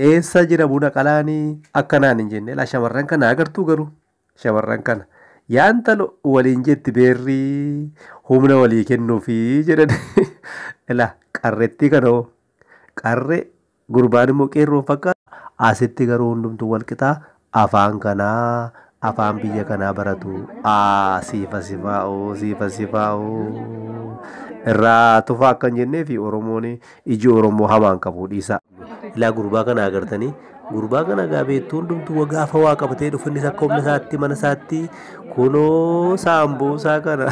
Eessa jira buna qalaani akka naan hin jenne laa shamarran kana agartuu garuu shamarran kana yaa intalo waliin jetti beerrii humna walii kennuufi jedhan ilaa qarrettii kana hoo qarre gurbaan immoo qeerroon fakkaata asitti garuu hundumtuu wal qixaa Afaan kanaa afaan biyya kanaa baratu aa siifa sifaa oo siifa sifaa oo irraa tufaa akka hin jennee fi oromoon iji oromoo hamaan qabu dhiisaa. Ilaa gurbaa kana agartanii gurbaa kana gaa beektuu hundumtuu wagaa afa waa qabatee dhufu innis akka humna isaatti mana isaatti kunoo saambuusaa kana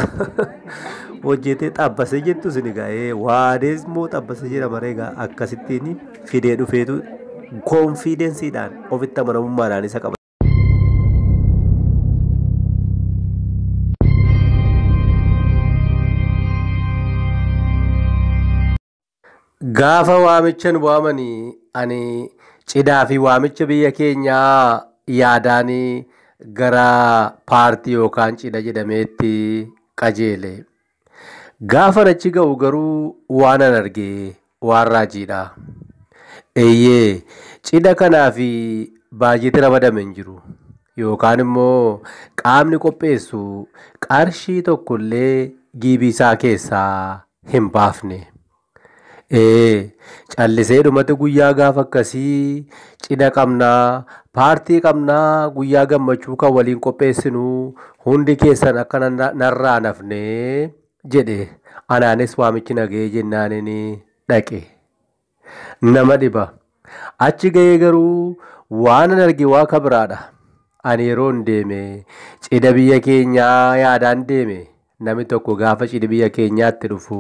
hojjetee xabbasee jettu isin egaa ee waadees moo xabbasee jedhama ree egaa akkasittiin fidee dhufeetu koonfiidensiidhaan ofitti amanamummaadhaan isa qaba. Gaafa waamichan waamanii ani cidaa fi waamicha biyya keenyaa yaadaan gara paartii yookaan cida jedhameetti qajeele. Gaafan achi ga'u garuu waanan arge waan raajiidha. Eeyyee, cidha kanaaf baajeti ramadame hin jiru. Yookaan immoo qaamni qopheessu qarshii tokkollee giibiisaa keessaa hin baafne. Ee callisee dhumate guyyaa gaafa akkasii cidha qabnaa paartii qabnaa guyyaa gammachuu kan waliin qopheessinu hundi keessan akka na- narraa nafne jedhe anaanis waamichi naga'ee jennaanin dhaqe nama dhiba Achi gahee garuu waanan arge waa ka biraadha. Ani yeroon deeme cidha biyya keenyaa yaadaan deeme. Namni tokko gaafa cidhi biyya keenyaatti dhufu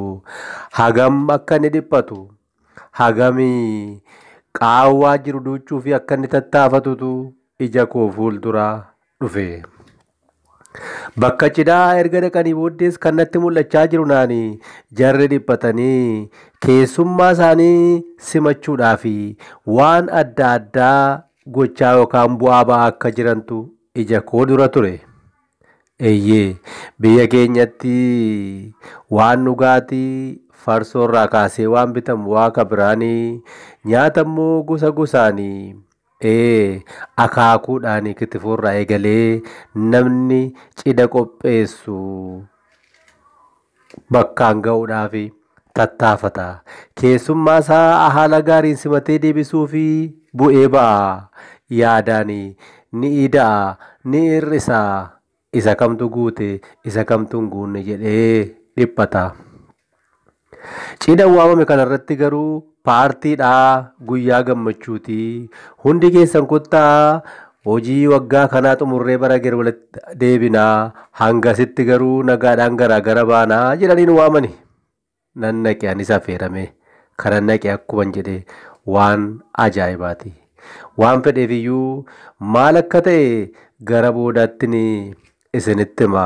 hagam akka inni dhiphatu, hagam qaawwaa jiru duuchuufi akka inni tattaafatutu ija koo fuuldura dhufe. Bakka cidhaa erga dhaqanii booddees kan natti mul'achaa jiru naani jarri dhiphatanii keessummaa isaanii simachuudhaaf waan adda addaa gochaa yookaan bu'aa ba'aa akka jirantu ija koo dura ture. Eeyyee biyya keenyatti waan dhugaatii farsoo irraa kaasee waan bitamu waaqa biraanii nyaata immoo gosa gosaanii Ee, akaakuudhaanii kitifoorraa eegalee namni cida qopheessu bakkaan ga'uudhaaf tattaafata. Keessummaa isaa haala gaariin simatee deebisuuf bu'ee ba'a. Yaadaan ni ida'a, ni hir'isa. Isa kamtu guute, isa kamtu hin guunne jedhee dhiphata. Cidha waamame kanarratti garuu paartiidha, guyyaa gammachuuti. Hundi keessan kottaa hojii waggaa kanaa xumurree bara gara walitti deebina. Hangasitti garuu nagaadhaan garaa gara baana jedhaniin waamani. nan naqe anis afeeramee kanan naqe akkuman jedhe waan ajaa'ibaati. Waan fedheefiyyuu maal akka ta'e gara boodaattin isinitti hima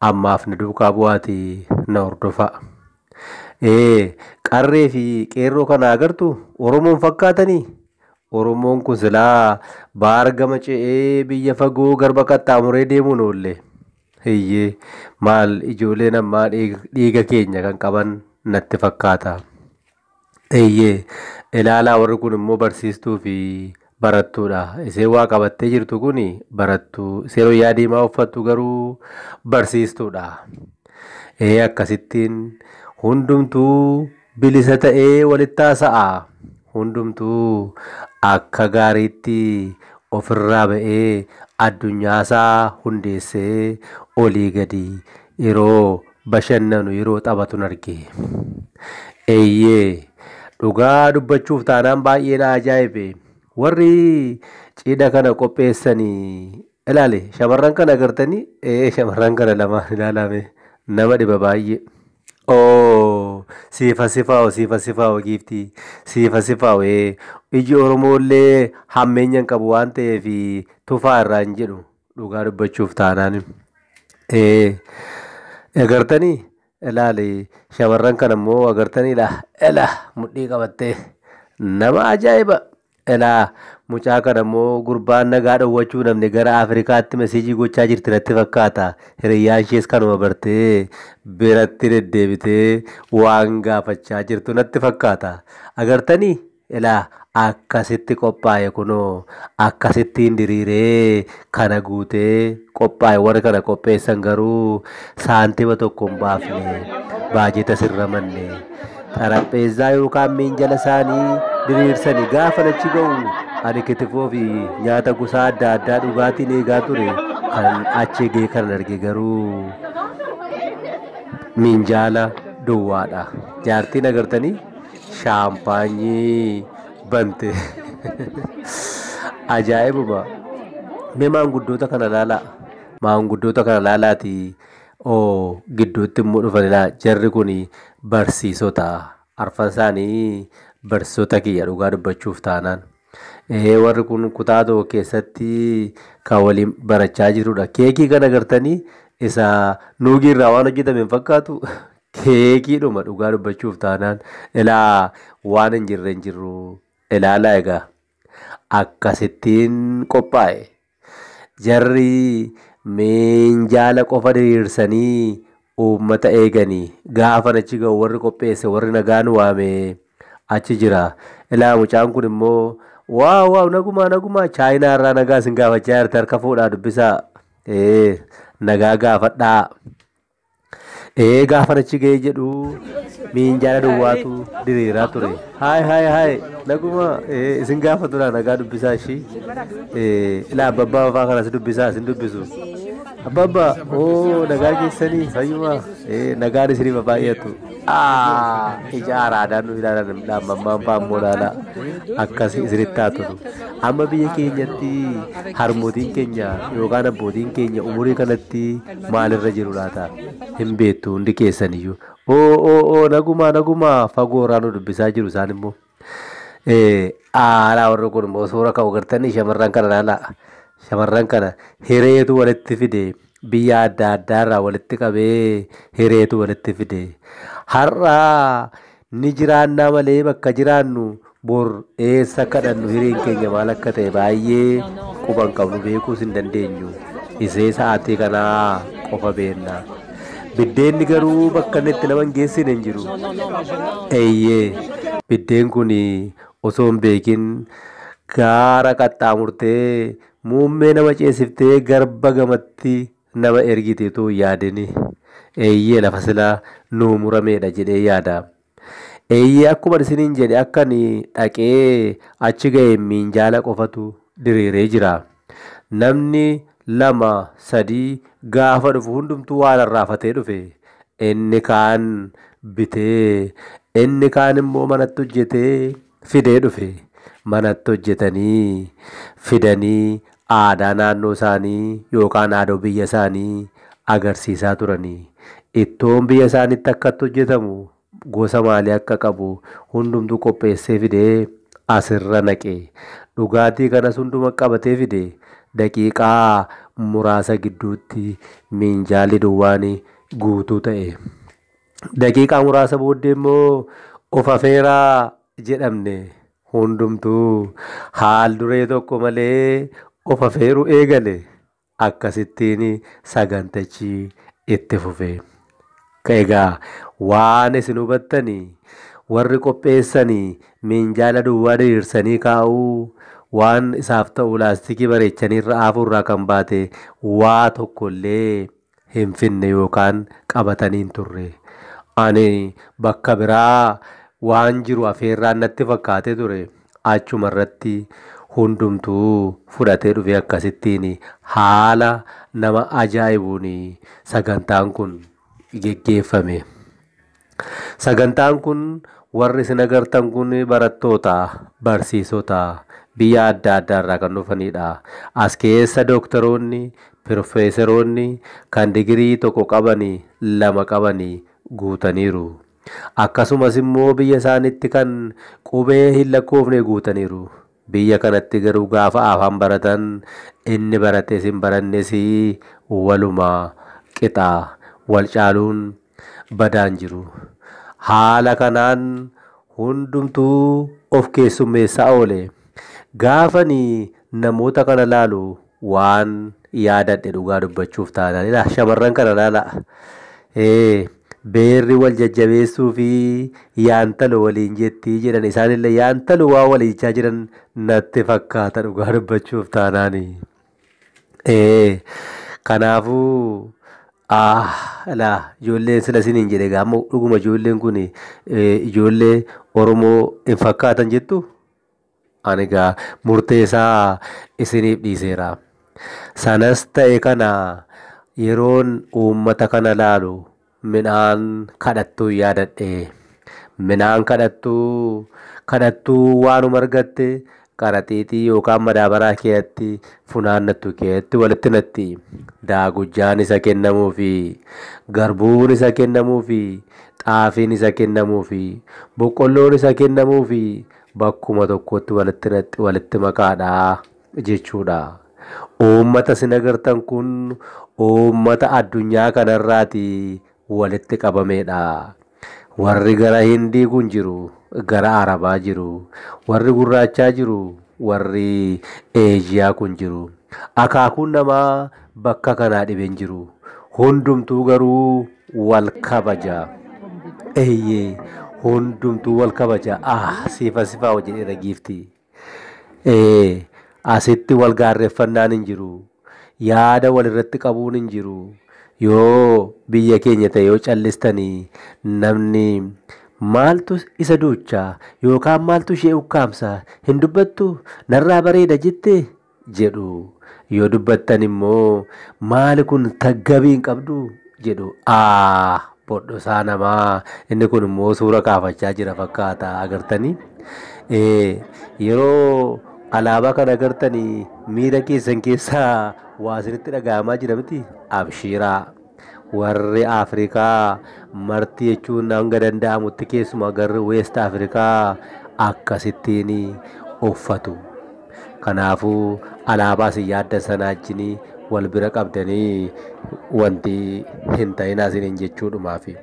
ammaaf na duukaa bu'aati na hordofaa. Ee qarree fi qeerroo kana agartu Oromoon fakkaatanii? Oromoon kun silaa baar gama ce'ee biyya fagoo garba qaxxaamuree deemuun oollee. Eyyee maal ijooleen ammaa dhiiga keenya kan qaban natti fakkaata. Eyyee ilaalaa warri kun immoo barsiistuu fi barattuudha. Iseen waa qabattee jirtu kun barattuu. Iseen wayyaa diimaa uffattu garuu barsiistuudha. Ee akkasittiin hundumtuu bilisa ta'ee walitti haasa'a. hundumtuu akka gaariitti ofirraa ba'ee addunyaasaa hundeessee olii gadi yeroo bashannanu, yeroo taphatun arge. Eeyyee, dhugaa dubbachuuf taanaan baay'ee na ajaa'ibe. Warri cidha kana qopheessan ilaali shamarran kana agartanii? Ee shamarran kana lamaan ilaalaa mee nama dhiba baay'ee. Ooh siif haa sifaa'u siif haa sifaa'u giiftii siif haa sifaa'u ee iji oromoo illee hammeenya hin qabu waan ta'eef tufaa irraa hin jedhu dhugaa dubbachuuf taanaan ee agartanii ilaali shamarran kana immoo agartanii ilaa ilaa mudhii qabattee nama ajaa'iba Elaa mucaa kana moo gurbaan nagaa dhowwachuu namne gara Afrikaatti mesiijii gochaa jirti natti fakkaata hiriyyaan ishees kanuma bartee biratti deddeebitee waan gaafachaa jirtu natti fakkaata agartani elaa akkasitti qophaa'e kunoo akkasittiin diriiree kana guutee qophaa'e warri kana qopheessan garuu saantima tokko hin baafne baajetas hin ramanne xarapheezzaa yookaan miinjala isaanii diriirsanii gaafa achi ga'u ani kitifoo fi nyaata gosaa adda addaa dhugaatiin eegaa ture kan achi eegee kan arge garuu miinjaala duwwaadha jaartiin agartanii shaampaanyii bante ajaa'ibuma mee maanguddoota kana laalaa maanguddoota kana laalaati oo gidduutti immoo dhufanilaa jarri kun barsiisota arfan isaanii barsiisota kiyya dhugaa dubbachuuf taanaan ee warri kun kutaa tokko keessatti kan waliin barachaa jirudha keekii kana gartanii isa nuugii irraa waan hojjetame hin fakkaatu Keekiidhuma dhugaa dubbachuuf taanaan ilaa waan hin jirre hin jirru ilaalaa egaa akkasittiin qophaa'e jarri miinjaala qofa diriirsanii uummata eeganii gaafan achi ga'u warri qopheesse warri nagaan waame achi jira ilaa mucaan kun immoo waaw waaw nagumaa nagumaa chaayinaa irraa nagaa isin gaafachaa jirti harka fuudhaa dubbisaa ee nagaa gaafadhaa Ee gaafan achi ga'ee jedhu miinjaala duwwaatu diriiraa ture. Haay haay haay naguma ee isin gaafa dura nagaa dubbisaa ishii ee ilaa abbabbaa fafaa kanas dubbisaa isin dubbisu. Abbabbaa oo nagaa keessanii fayyuma ee nagaan isiniif baay'atu. Aa ija araadaan nu ilaalan dhaamammaan faammoo laala akkas isinitti haa tolu. Amma biyya keenyatti harmootiin keenya yookaan abbootiin keenya umurii kanatti maalirra jiru laata? Hin beektu hundi keessaniyyuu. Oo oo oo nagumaa nagumaa fagoo irraa nu dubbisaa jiru isaan immoo. Eh, Aalaa warri kun immoo suura ka'u gartanii shamarran kana laalaa. Shamarran kana hireetu walitti fide biyya adda addaa irraa walitti qabee hireetu walitti fide. Har'aa Ni jiraannaa malee bakka jiraannu bor eessa akka dhaqnu hireen keenya maal akka ta'e baay'ee quba hin qabnu beekuus hin dandeenyu. Isee sa'aatii kanaa qofa beekna. Biddeenni garuu bakka inni itti nama hin geessine hin jiru. Eeyyee biddeen kun osoo hin beekin gaara qaxxaamurtee muummee nama ceesiftee garba gamatti nama ergite utuu hin yaadini? Eeyyee, lafa sila nuu muramee dha jedhee yaada. Eeyyee, akkuman isiniin jedhe akka ani dhaqee achi ga'een miinjaala qofatu diriiree jira. Namni lama, sadii gaafa dhufu hundumtuu waa rarraafatee dhufe. Inni kaan bitee, inni kaan immoo manatti hojjetee fidee dhufe. Manatti hojjetanii fidanii aadaa naannoo isaanii yookaan aadoo biyya isaanii agarsiisaa turani. Ittoon biyya isaaniitti akkatti hojjetamu gosa maalii akka qabu hundumtuu qopheessee fidee asirra naqe. Dhugaatii kanas hunduma qabatee fide daqiiqaa muraasa gidduutti miinjaalli duwwaan guutuu ta'e. Daqiiqaa muraasa booddee immoo of afeeraa jedhamne. Hundumtuu haal duree tokko malee of afeeru eegale. Akkasittiin sagantichi itti fufe. Egaa waan isin hubattani warri qopheessani minjaala duwwaa diriirsanii kaa'uu waan isaaf ta'u laastikii bareechanii irra aafuu irraa kan baate waa tokko illee hin finne yookaan qabatanii hin turre. Ani bakka biraa waan jiru afeerraan natti fakkaatee ture. Achuma irratti hundumtuu fudhatee dhufee akkasittiin haala nama ajaa'ibuun sagantaan kun geggeeffame. Sagantaan kun warri isin agartan kun barattoota, barsiisota biyya adda addaa irraa kan dhufanidha. As keessa dooktaroonni, pirofeesaroonni kan digirii tokko qabani, lama qabani guutaniiru. Akkasumas immoo biyya isaanitti kan qubee hin lakkoofne guutaniiru. Biyya kanatti garuu gaafa afaan baratan inni barates hin barannes waluma qixa. Wal caaluun badaa hin jiru. Haala kanaan hundumtuu of keessummeessaa oole. Gaafani namoota kana laalu waan yaadadhe dhugaa dubbachuuf taanaan ilaa shamarran kana laalaa. Ee beerri wal jajjabeessuu fi yaantalo waliin jettii jedhan isaanillee yaantalo waa walii jechaa jiran natti fakkaata dhugaa dubbachuuf taanaani. Ee, kanaafuu ah, laa ijoolleen sila isiniin jedhe egaa amma dhuguma ijoolleen kun eh, ijoollee Oromoo hin fakkaatan jettu ani egaa murteessaa isiniif dhiiseera. Sanas ta'e kana yeroon uummata kana laalu Midhaan kadhattuun yaadadhe. Midhaan kadhattuu, kadhattuu waanuma argatte qaraxiixii yookaan madaabaraa keetti funaannattu keetti walitti naqxi. Daagujjaan isa kennamuufi, garbuun isa kennamuufi, xaafiin isa kennamuufi, boqqolloon isa kennamuufi bakkuma tokkotti walitti naqxi walitti makaadha. jechuudha. Uummata isin agartan kun uummata addunyaa kanarraati walitti qabameedha. Warri gara Hindii kun jiru gara Arabaa jiru. Warri gurraachaa jiru warri Eeshiyaa kun jiru. Akaakuun namaa bakka kanaa dhibe hin jiru. Hundumtuu garuu wal kabaja. Eeyyee hundumtuu wal kabaja. Ah siifaa sifaa hojjedheera giiftii. Ee, asitti wal gaarreffannaan hin jiru. Yaada wal irratti qabuun hin jiru. Yoo biyya keenya ta'e yoo callistanii namni maaltu isa duucha yookaan maaltu ishee ukkaamsa hin dubbattu narraa bareeda jette jedhu yoo dubbattan immoo maali kun taggabii hin qabdu jedhu aa bodhosaa namaa inni kun immoo suura kaafachaa jira fakkaata agartanii ee yeroo alaabaa kan agartanii miira keessan keessaa waa isinitti dhaga'amaa jira miti abshiiraa. Warri Afrikaa marti jechuun hanga danda'amutti keessumaa garri Weest Afrikaa akkasittiin uffatu. Kanaafuu alaabaa isin yaaddan sanaa wajjin wal bira qabdanii wanti hin ta'inaa isiniin jechuudhumaafi.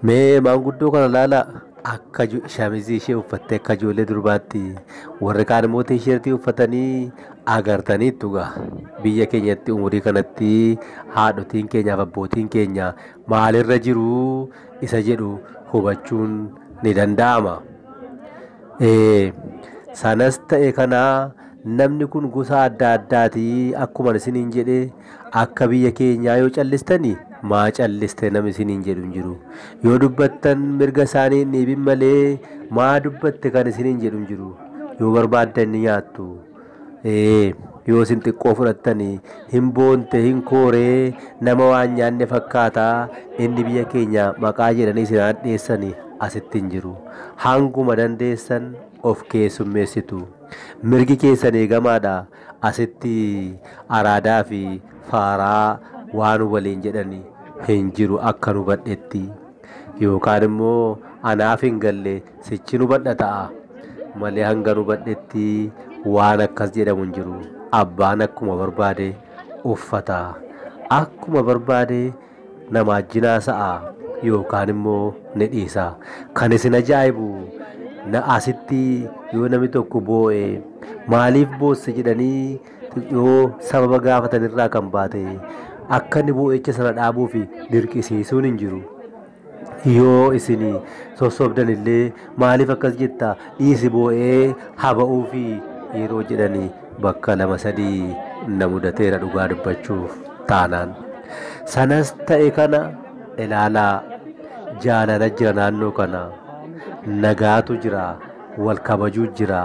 Mee maanguddoo kana ilaalaa. akka shamizii ishee uffattee akka ijoollee durbaatti warri kaan immoo tiishartii uffatanii agartaniittu gaa biyya keenyatti umurii kanatti haadhotiin keenyaaf abbootiin keenya maalirra jiru isa jedhu hubachuun ni danda'ama. Sanas ta'e kana namni kun gosa adda addaati akkuma isiniin jedhe. Akka biyya keenyaa yoo callistani maa calliste nam isin hin jedhu hin jiru. Yoo dubbattan mirga isaanii hin dhiibin malee maa dubbatte kan isin hin jedhu hin jiru. Yoo barbaaddan ni nyaattu. Ee, yoo isin xiqqoo fudhattani hin boonte hin kooree nama waan nyaanne fakkaata inni biyya keenya maqaa jedhanii isin hadheessani asitti hin jiru. Hanguma dandeessan of keessummeessitu. Mirgi keessan eegamaadha. Asitti araadaa fi faaraa waan waliin jedhan hin jiru akkan hubadhetti. Yookaan immoo anaaf hin galle sichin hubadha ta'a. Malee hangan hubadhetti waan akkas jedhamu hin jiru. Abbaan akkuma barbaade uffata. Akkuma barbaade na maajjin haasa'a yookaan immoo ni dhiisa. Kan isin ajaa'ibu na asitti yoo namni tokko boo'e maaliif boosse jedhanii yoo sababa gaafatan irraa kan baate akka inni boo'icha sana dhaabuuf dirqisiisuun hin jiru. Yoo isin sossobdan illee Maaliif akkas jetta? Dhiisi boo'ee haa ba'uufi yeroo jedhan bakka lama sadii na mudateera dhugaa dubbachuuf taanaan. Sanas ta'e kana ilaalaa jaalala jira naannoo kana, nagaatu jira, wal kabajuu jira,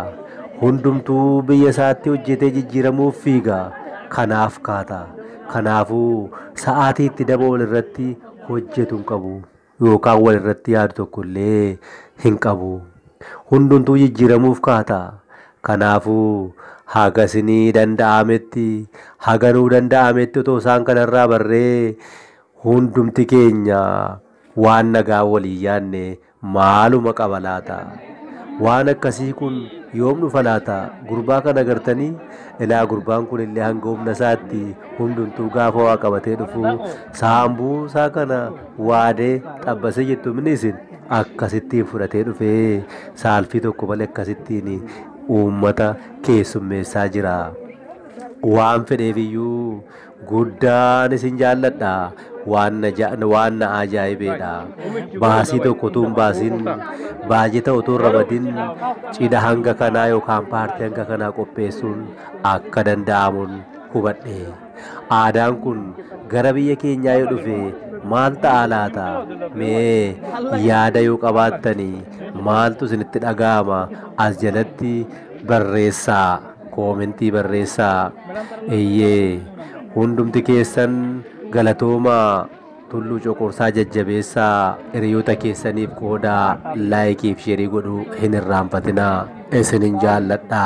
hundumtuu biyya isaatti hojjetee jijjiiramuuf fiiga, kanaaf kaata. Kanaafuu sa'aatii itti daba walirratti hojjetu hin qabu. yookaan wal irratti yaadu tokko illee hin qabu. Hundumtuu jijjiiramuuf ka'a ta'a. Kanaafuu haga isinii danda'ametti, haga nuu danda'ametti otoo isaan kana irraa barree hundumti keenya waan nagaa waliin yaadne maaluma qaba laata? Waan akkasii kun yoom dhufa laata? Gurbaa kana agartanii? Ilaa gurbaan kun illee hanga humna isaatti hundumtuu gaafa waa qabatee dhufu saambuusaa kana Waadee, xabbasee jettu mini isin akkasittiin fudhatee dhufee saalfii tokko malee akkasittiin uummata keessummeessaa jira. Waan fedheefiyyuu guddaan isin jaalladha. Waan na ja- waan na ajaa'ibeedha. Baasii tokko utuu hin baasin baajeta utuu hin ramadin cidha hanga kanaa yookaan paartii hanga kanaa qopheessuun akka danda'amuun hubadhe. Aadaan kun gara biyya keenyaa yoo dhufe maal ta'a laata? Mee yaada yoo qabaattani maaltu isinitti dhaga'ama as jalatti barreessaa koomentii barreessaa. Eeyyee hundumti keessan galatoomaa Tulluu Coqorsaa jajjabeessaa hiriyoota keessaniif qoodaa laayikiif sheerii godhuu hin irraanfatinaa isinin jaalladha.